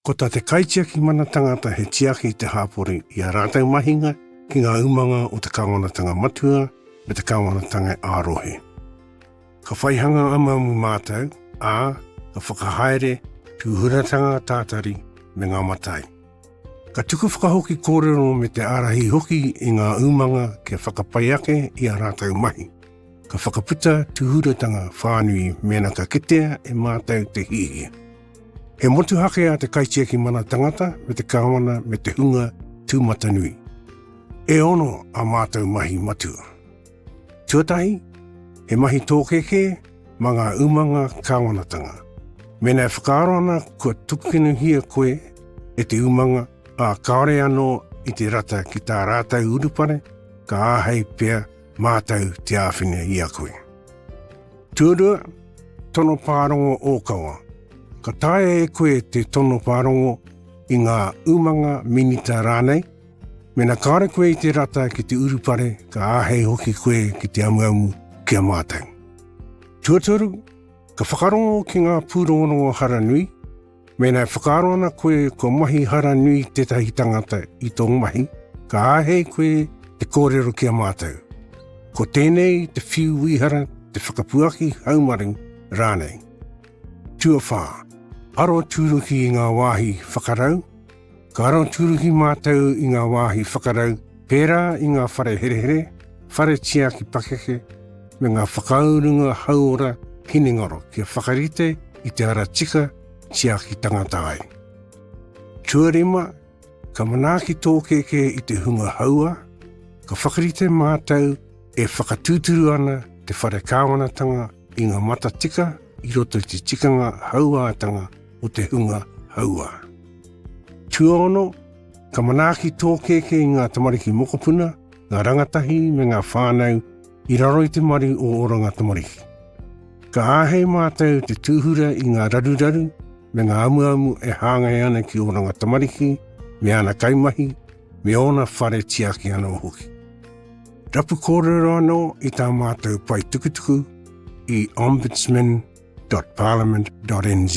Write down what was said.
Ko tā te kaitiaki mana tangata he tiaki i te hāpori i ā rātou mahinga ki ngā umanga o te kāwanatanga matua me te kāwanatanga ā-rohe. Ka whaihanga amuamu mātou, ā, ka whakahaere tūhuratanga tātari me ngā matai. Ka tuku whakahoki kōrero me te ārahi hoki i ngā umanga kia whakapai ake i ā rātou mahi. Ka whakaputa tūhuratanga whānui mēnā ka kitea e mātou te hiahia. He motuhake a te kaitiaki mana tangata me te kāwana me te hunga tūmatanui. E ono a mātou mahi matua. Tuatahi, he mahi tōkēkē mā ngā umanga kāwanatanga. Mēnā e whakaaro ana kua tukunuhia koe e te umanga, ā, kāore anō i te rata ki tā rātou urupare, ka āhei pea Mātou te āwhina i a koe. Tuarua, tono pārongo ōkawa. Ka taea e koe te tono pārongo i ngā umanga, minita rānei, mēnā kāore koe i te rata ki te urupare, ka āhei hoki koe ki te amuamu ki a mātou. Tuatoru, ka whakarongo ki ngā pūrongorongo hara nui, Mēnā e whakaaro ana koe kua mahi hara nui tētahi tangata i tō mahi, ka āhei koe te kōrero ki a mātou. Ko tēnei te whiu wīhara, te whakapuaki haumaru rānei. Tuawhā, aro tūruki i ngā wāhi whakarau, Ka aroturuki mātou i ngā wāhi whakarau, pērā i ngā whare herehere, whare tiaki pakeke, me ngā whakaurunga hauora hinengaro kia whakarite i te ara tika tiaki tangata ai. Tuarima, ka manaaki tō kēkē i te hunga hauā, ka whakarite mātou e whakatūturu ana te whare kāwanatanga i ngā matatika i roto i te tikanga hauātanga o te hunga hauā. Tuaono, ka manaaki tō kēkē i ngā tamariki mokopuna, ngā rangatahi me ngā whānau i raro i te maru o Oranga Tamariki. Ka āhei mātou te tūhura i ngā raruraru me ngā amuamu e hāngai ana ki Oranga Tamariki me ana kaimahi, me ōna whare tiaki anō hoki. Rapu kōrero anō i tā mātou paetukutuku i Ombudsman www.parliament.nz.